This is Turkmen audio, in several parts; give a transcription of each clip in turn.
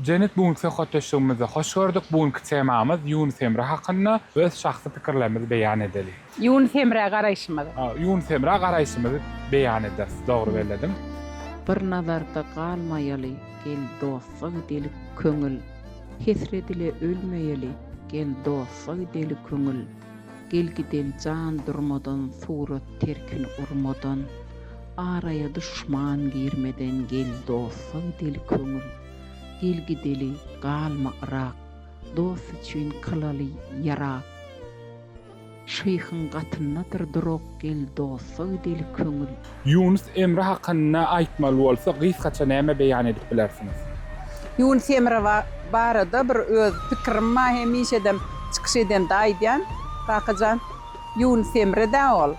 Jennet bu günki söhbetdeşligimizi hoş gördük. Bu günki temamyz Ýunus Emre hakynda öz şahsy pikirlerimizi beýan edeli. Ýunus Emrä garaýşymyzy. Ýunus Emrä garaýşymyzy beýan ederis. Dogry bellediň. Bir nazarda galmaýaly, gel dosta gidelik köňül, Hesret ile ölmeýeli, gel dosta gideli köňül, Gel gideli jan durmadan, surat terkin urmadan, Araýa duşman girmeden, gel dosta gideli köňül. Gel gideli, galma yrak, Dost üçin kylaly ýarak. Şyhyň gatyndadyr durak, Gel dosta gideli köňül. Ýunus Emre hakynda aýtmaly bolsa gysgaça näme beýan edip bilersiňiz? Ýunus Emre barada bir öz pikirim bar hemişedem çykyş edende aýdýan Kakajan Ýunus Emredä ol.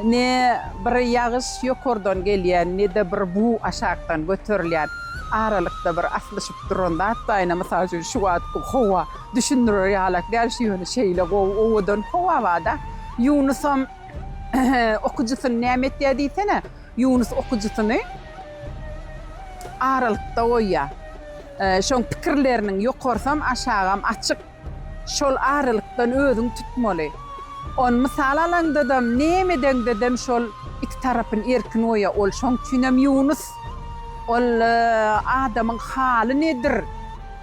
Ne bir ýagyş ýokardan gelýän, ne-de bir bug aşakdan göterilýän. Aralykda bir aslyşyp duran zat baýna, mysal üçin, şu wagtky howa düşündirer ýalak däl, şu ýöne şeýle gowy, owadan howa bar-da. Ýunusam okyjysyny näme etýär diýsene? Ýunus okyjysyny aralykda goýýar. Şoň pikirleriniň ýokarsam, aşagam açyk. Şol aralykdan özüňi tutmaly. Ony mysal alaňdadam, neme edeňdedem şol iki tarapyny erkin goýa. Ol şoň üçinem Ýunus. Ol adamyň haly nedir?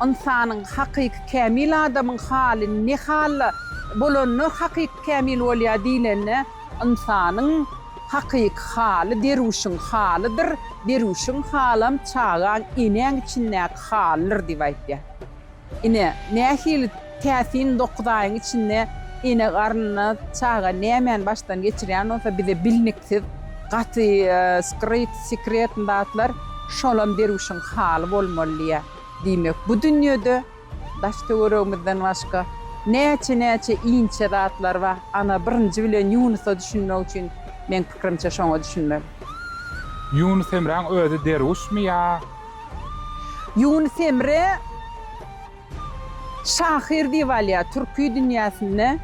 Ynsanyň, hakyky kämil adamyň haly ne halda bolanda hakyky kämil bolýar diýlende, ynsanyň hakyky haly derwüşiň halydyr, derwüşiň halam çagaň enäň içindäki halydyr diýip aýtýar. Ine, nähili täsin dokuz aýyň içinde ene garnyna çaga nämäni başdan geçirýän bolsa, bize bilniksiz, gaty skryt, sekretny zatlar, şolam derwüşiň haly bolmaly diýýä. Diýmek, bu dünýede daş-töweregimizden başga näçe-näçe inçe zatlar bar. Ana, birinji bilen Ýunusa düşünmek üçin, meň pikirimçe, şoňa düşünmeli. Ýunus Emräň özi derwüşmi ýa Ýunus Emre şahyr diýip alýar türki dünýäsinde.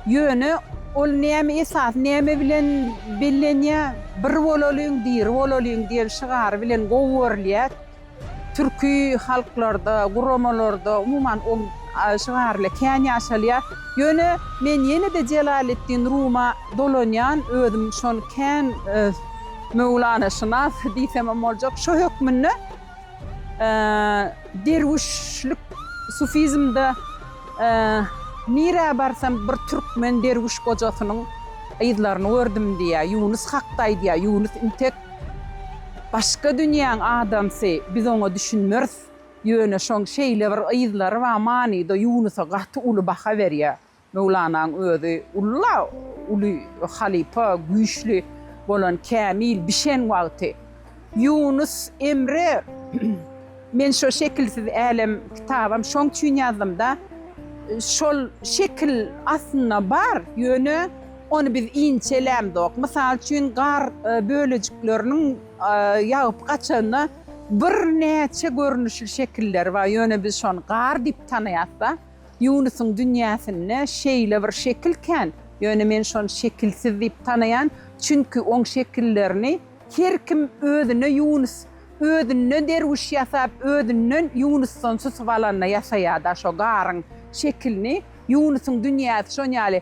Ýöne ol näme esas, näme bilen bellenýär? Bir bolalyň, diri bolalyň diýen şygary bilen gowy görülýär. Türki halklarda, guramalarda umuman ol şygarlar kän ýaşalýar. Ýöne men ýene-de Jelaletdin Ruma dolanýan, özüm şony kän Möwlanaşynas diýsemem boljak. Şu hökmünde derwüşlik sufizmde nirä barsam bir türkmen derwüş gojasynyň yzlaryny gördüm diýýär. Ýunus hakda aýdýar. Ýunus intek başga dünýäň adamsy, biz oňa düşünmeris. Ýöne şoň şeýle bir yzlary bar manyda Ýunusa gaty uly baha berýär. Möwlanaň özi ulla uly halypa, güýçli bolan kämil bişen wagty, Ýunus Emre Men şo şekilsiz älem kitabam şoň üçin ýazdymda, şol şekil aslynda bar, ýöne ony biz inçelämzok. Mysal üçin, gar bölejikleriniň ýagyp gaçanda birnäçe görnüşli şekilleri bar, ýöne biz şony gar diýip tanaýasda. Ýunusyň dünýäsinde şeýle bir şekil kän, ýöne men şony şekilsiz diýip tanaýan, çünki oň şekillerini her kim özüne ýunus, özünden derwüş ýasap, özünden ýunusdan susup alanda ýasaýar-da şo garyň şekilini, ýunusyň dünýäsi şon ýaly,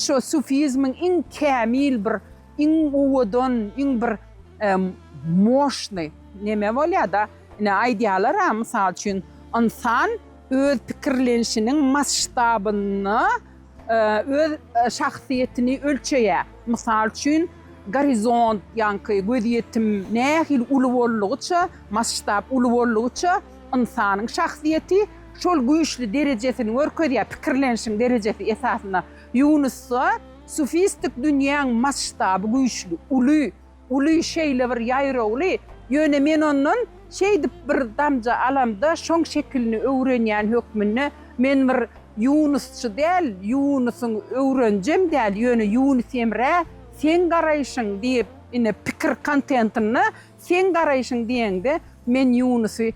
şo sufizmiň iň kämil bir, iň owadan, iň bir moşnyý neme bolýar-da, ine aýdýalar-a, mysal üçin, ynsan. öz pikirlenişiniň masştabynda öz şahsyýetini ölçeýär. Mysal üçin, gorizont, ýaňky gözýetim nähili uly boldugyça, masştab uly boldugyça, ynsanyň şahsyýeti şol güýçli derejesini görkezýär, pikirlenişiň derejesi esasynda. Ýunusda sufistik dünýäň masştaby güýçli, uly. Uly şeýle bir ýaýrawly, ýöne men ondan şeýdip bir damja alamda şoň şekilini öwrenýän hökmünde, men bir ýunusçy däl, ýunusyň öwrenjem däl, ýöne ýunus emrä seň garaýşyň diýip, ine pikir kontentinde seň garaýşyň diýeňde men ýunusy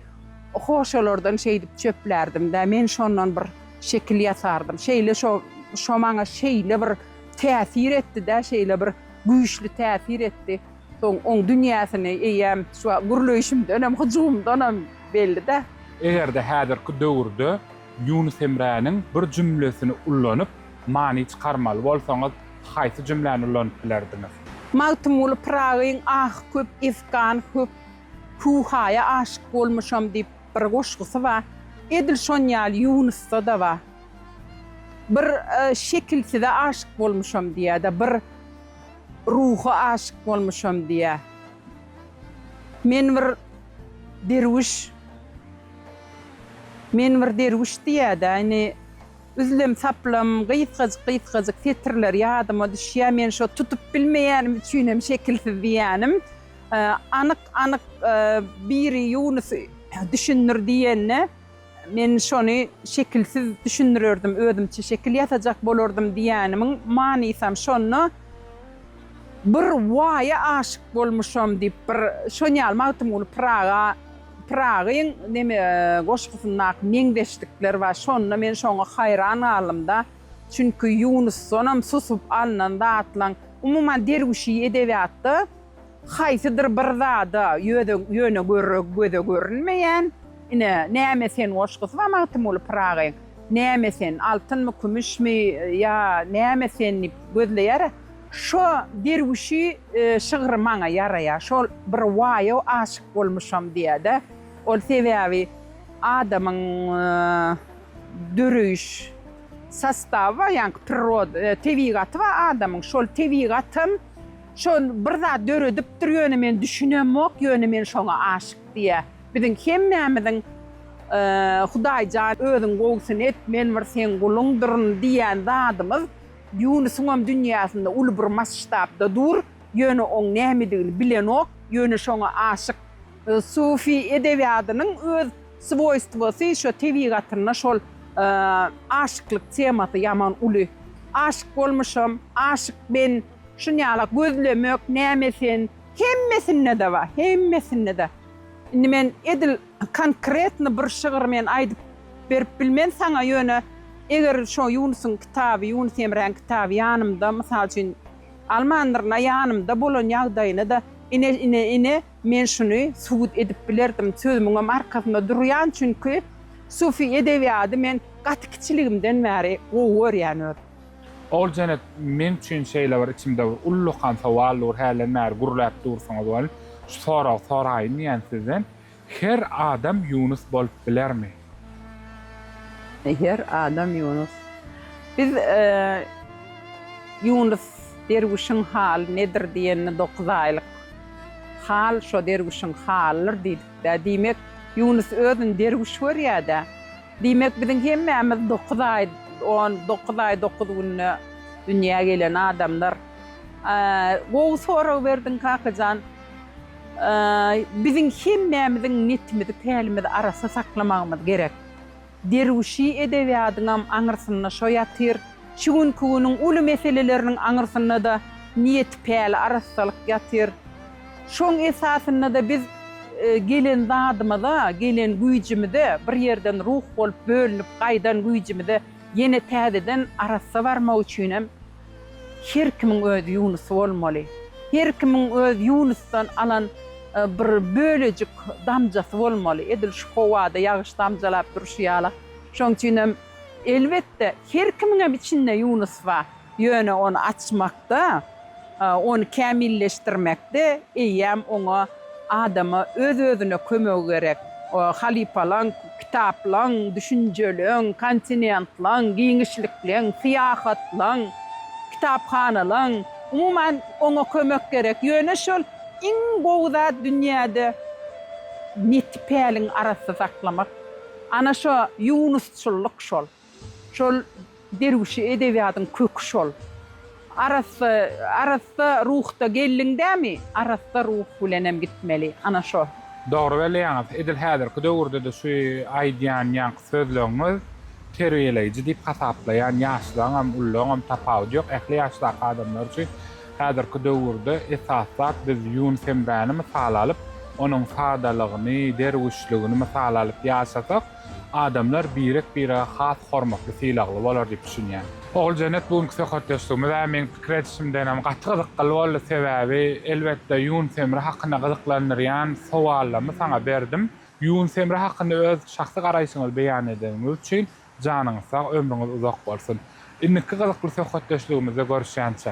hoşalardan şeýdip çöplärdimdä, men şondan bir şekil ýasardym, şeýle şo şo maňa şeýle bir täsir etdidä, şeýle bir güýçli täsir etdi. Soň oň dünýäsini eýýäm şu gürleýşimdenem, hyjuwymdanam belli-dä. Eger-de häzirki döwürde Ýunus Emräniň bir jümlesini ullanyp, many çykarmaly bolsaňyz, haýsy jümläni ullanyp bilerdiňiz? Magtymguly Pyragyň Ah köp efgan köp, Hu-haýa aşyk bolmuşam diýip, Bir goşgusy bar. Edil şon ýaly Ýunusda-da bar. Bir şekilsize aşyk bolmuşam diýýär-de, bir ruha aşyk bolmuşam diýýär. Men bir derwüş, men bir derwüş diýýär-de, indi üzlem-saplam, gysgajyk-gysgajyk setirler ýadyma düşýär. Men şo tutup bilmeýänim üçinem şekilsiz diýýänim. Anyk-anyk biri Ýunus düşündir diýende, men şony şekilsiz düşündirerdim, özümçe şekil ýasajak bolardym diýenimiň manysam şonda, Bir waýa aşyk bolmuşam diýip bir şon ýaly Magtymguly Pyraga Pyragyň neme goşgusyndaky meňzeşlikler bar. Şonda men şoňa haýran galdym-da. Çünki Ýunusdanam susup alnan zatlaň, umuman derwüşi edebiýatda Haýsydyr bir zada ýöze ýöne görre göze görünmeýän, ine, näme sen goşgusy bar Magtymguly Pyragyň, Näme sen, altynmy, kümüşmi, ýa näme sen diýip gözleýär-ä. Şo derwüşi şygry maňa ýaraýar. Şol bir waýa aşyk bolmuşam diýýär-de. Ol sebäbi adamyň döreýiş sostawy bar, ýaňky priroda, tebigaty bar adamyň. Şol tebigatam Şol bir zat döredipdir ýöne men düşünemok ýöne men şoňa aşyk diýä. Biziň hemmämiziň Hudaýjan özüň gowusyny et men bir seň guluňdyryn diýýän zadymyz Ýunusyňam dünýäsinde uly bir masştabda dur ýöne oň nämedigini bilenok ýöne şoňa aşyk. Sufi edebiýadynyň öz swoýstwosy şo tebigatynda şol aşyklyk temasy ýaman uly. Aşyk bolmuşam, aşyk men. Şunýala gözlemek näme sen. Hemmesinde-de bar, hemmesinde-de. Indi men edil konkretno bir şygyr men aýdyp berip bilmen saňa, ýöne eger şo Ýunusyň kitaby, Ýunus Emräň kitaby ýanymda, mysal üçin, almandyryn-a, ýanymda bolan ýagdaýyna-da, ine, ine, ine, men şuny subut edip bilerdim, sözümiňem arkasynda durýan, çünki sufi edebiýady men gaty kiçiligimden bäri gowy görýän özüm. Ol janyp men üçin şeýle bir içimde bir ullakan sowal dur hälden bäri gürläp dursuňyz welin şu soragy soraýyn diýýän sizden her adam Ýunus bolup bilermi? Her adam Ýunus. Biz Ýunus derwüşiň haly nedir diýende dokuz aýlyk hal şo derwüşiň halydyr diýdikdä diýmek Ýunus özüni derwüş görýädä. Diýmek, biziň hemmämiz dokuz aý, on dokuz aý, dokuz günde dünýä gelen adamlar. Gowy sorag berdiň, kakajan. Biziň hemmämiziň netimizi, pälimizi arassa saklamagymyz gerek. Derwüşi edebiýadyňam aňyrsynda şo ýatyr. Şu günki günüň uly meseleleriniň aňyrsynda-da niýet, päl, arassalyk ýatyr. Şoň esasynda-da biz gelen zadymyza, gelen güýjümize, bir ýerden ruh bolup bölünip gaýdan güýjümize ýene täzeden arassa barmak üçin hem her kimiň öz ýunusy bolmaly. Her kimiň öz ýunusdan alan bir bölejik damjasy bolmaly. Edil şu howada ýagyş damjalap durşy ýala. Şoň üçin hem, elbetde, her kimiň hem içinde ýunus bar. Ýöne ony açmakda, ony kämilleşdirmekde eýýäm oňa adama öz-özüne kömegi gerek. Halypalaň, kitaplaň, düşünjeleň, kontinentlaň, giňişlikleň, syýahatlaň, kitaphanalaň, umuman, oňa kömek gerek. Ýöne şol iň gowy zat dünýäde neti päliň arassa saklamak. Ana şo ýunusçyllyk şol. Şol derwüşi edebiýadyň köki şol. Arassa, arassa ruhda geldiň dämi, arassa ruh bilenem gitmeli. Ana şo. Dogry belleýäňiz. Edil häzirki döwürde-de şu aýdýan ýaňky sözleňňiz terbiýeleýji diýip hasaplaýan ýaşlaňam, ullaňam tapawudy ýok. Ähli ýaşdaky adamlar üçin häzirki döwürde esas zat biz Ýunus Emräni mysal alyp, onuň sadalygyny, derwüşligini mysal alyp ýaşasak, Adamlar birek-bire has hormatly sylagly bolar diýip düşünýän. Oguljenet bu günki söhbetdeşligimiz-ä meň pikir edişimdenem gaty gyzykgly boldy, sebäbi elbetde Ýunus Emre hakynda gyzyklandyrýan sowallarymy saňa berdim. Ýunus Emre hakynda öz şahsy garaýşyňyzy beýan edeniňiz üçin janyňyz sag, ömrüňiz uzak bolsun. Indiki gyzykly söhbetdeşligimizde görüşýänçä.